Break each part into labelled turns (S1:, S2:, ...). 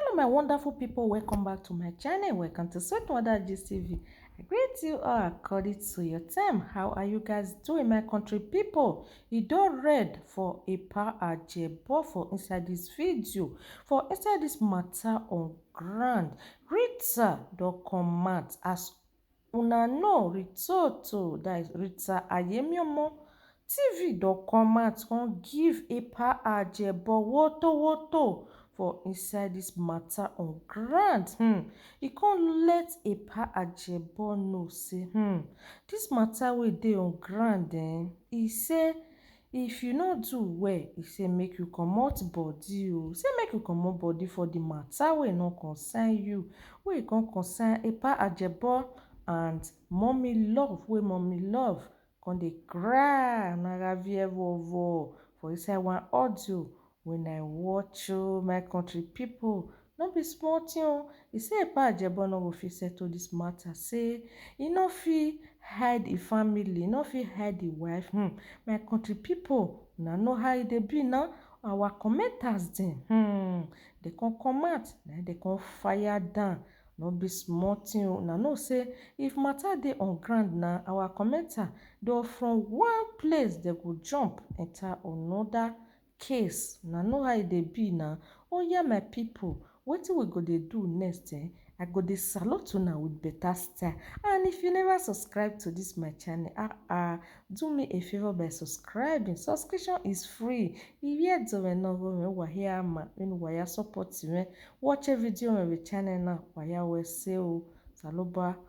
S1: Hello my wonderful people, welcome back to my channel, welcome to Sweet Mother Gist TV. I greet you all according to your time. How are you guys doing my country people? You don't read for a power ajebo for inside this video, for inside this matter on ground. Rita don come out as Una no return to thy Rita Ayemiomo TV don come out come give Epa Ajebo woto woto for inside this matter on ground um e come let Epa Ajebo know say um this matter wey dey on ground um e say If you no do well, e say make you comot body o. Say make you comot body for the matter wey no concern you, wey e come concern Epa Ajebo and Mummy Love wey Mummy Love come dey cry na ravie vovor for inside one audio When I watch o my country people no be small thing o e say epa ajebon no go fit settle this matter say e no fit hide e family e no fit hide e wife hum my country people una know how e dey be na our commenters dem hum dem come come out na im dem come fire down no be small thing o una know say if matter dey on ground na our commenter dem from one place dem go jump enter another case una know how e dey be na oya my people wetin we go dey do next eh I go dey salute una with better style and if you never subscribe to this my channel ah ah do me a favor by subscribing subscription is free iye dzowe no go me wahe ama in waya support me watch a video on the channel now waya we say o saloba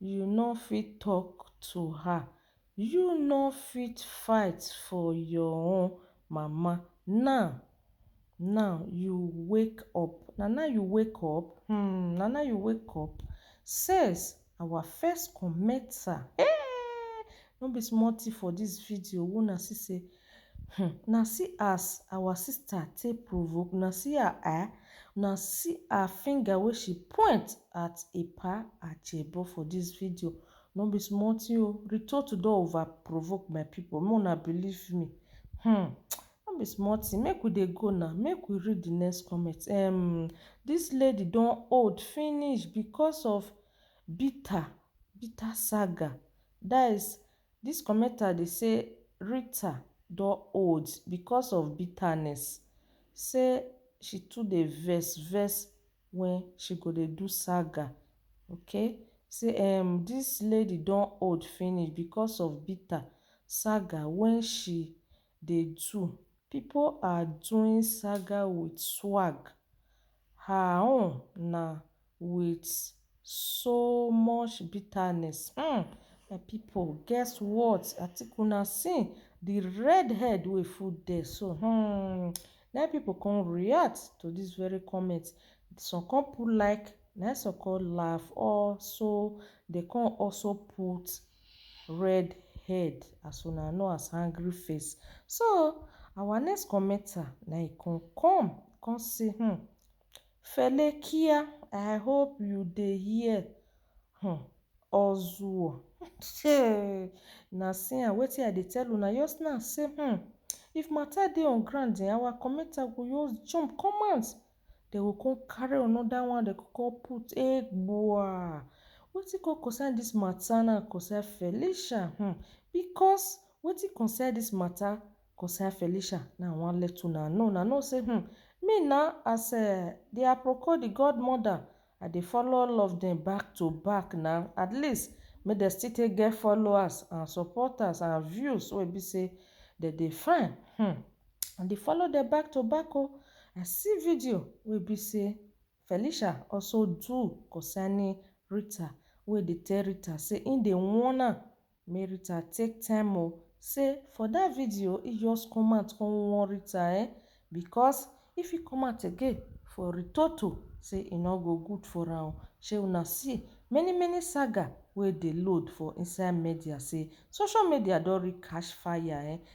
S1: You no fit talk to her. You no fit fight for your own mama now now you wake up na now you wake up um na now you wake up says our first commenter eeh no be small thing for this video una see say Hum na see as our sister take provoke una see her eye una see her finger wey she point at epa ajebo for this video no be small thing o ritotu don over provoke my people make una believe me hum no be small thing make we dey go now make we read the next comment ehm this lady don old finish because of bitter bitter saga that is Dis commenter dey say Rita don old because of bitterness, say she too dey vex vex when she go dey do saga, ok say ehm dis lady don old finish because of bitter saga when she Dey do, pipo are doing saga with swag, her own na with so much bitterness umm my pipo guess what I think una see the red head wey full there so umm na im pipo come react to this very comment some come put like na im some come laugh also dey come also put. Red head as una know as hangry face so our next commenter na e come come come say hmm Felekia I hope you dey hear hmm Ozuo hey na see am wetin I dey tell una just now say hmm if matter dey on ground eh our commenter go just jump come out Dem go come carry another one, dem go come put. Egbua! Wetin come concern this matter now concern Felicia um because wetin concern this matter concern Felicia na I wan let una know. Una know say um me na as um their Aproko the godmother I dey follow all of dem back to back na at least make dem still take get followers and supporters and views wey be say dem dey find hmmm I dey follow dem back to back o I see video wey be say Felicia also do concerning Rita wey dey tell Rita say him dey warn am Me Rita take time o say for that video e just come out come warn Rita eh because if e come out again for Ritoto say e no go good for am o shey una see many many saga wey dey load for inside media say social media don reach catch fire eh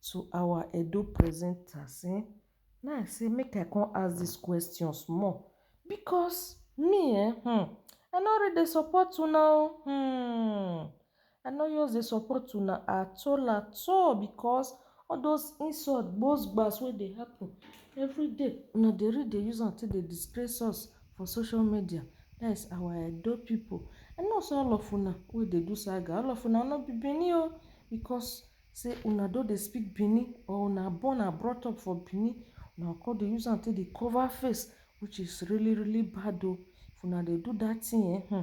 S1: to our Edo presenters um na im I say make I come ask this question small because me eh um I no really dey support una oh um I no just dey support una at all at all because all those insult gbos gbas wey dey happen everyday una dey really dey use am take dey disgrace us for social media that is our Edo people I know say all of una wey dey do saga all of una no be Benin oh because Say una don dey speak Bini or una born and brought up for Bini, una go come dey use am take dey cover face which is really really bad o. If una dey do that thing eh hmm,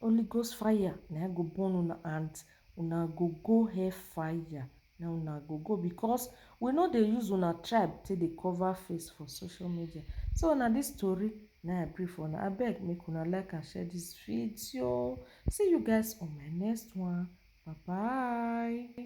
S1: Holy Ghost fire na im go burn una and una go go hell fire na una go go because we no dey use una tribe take dey cover face for social media. So na this tori na im I bring for una, abeg make una like and share this video. See you guys on my next one, bye bye.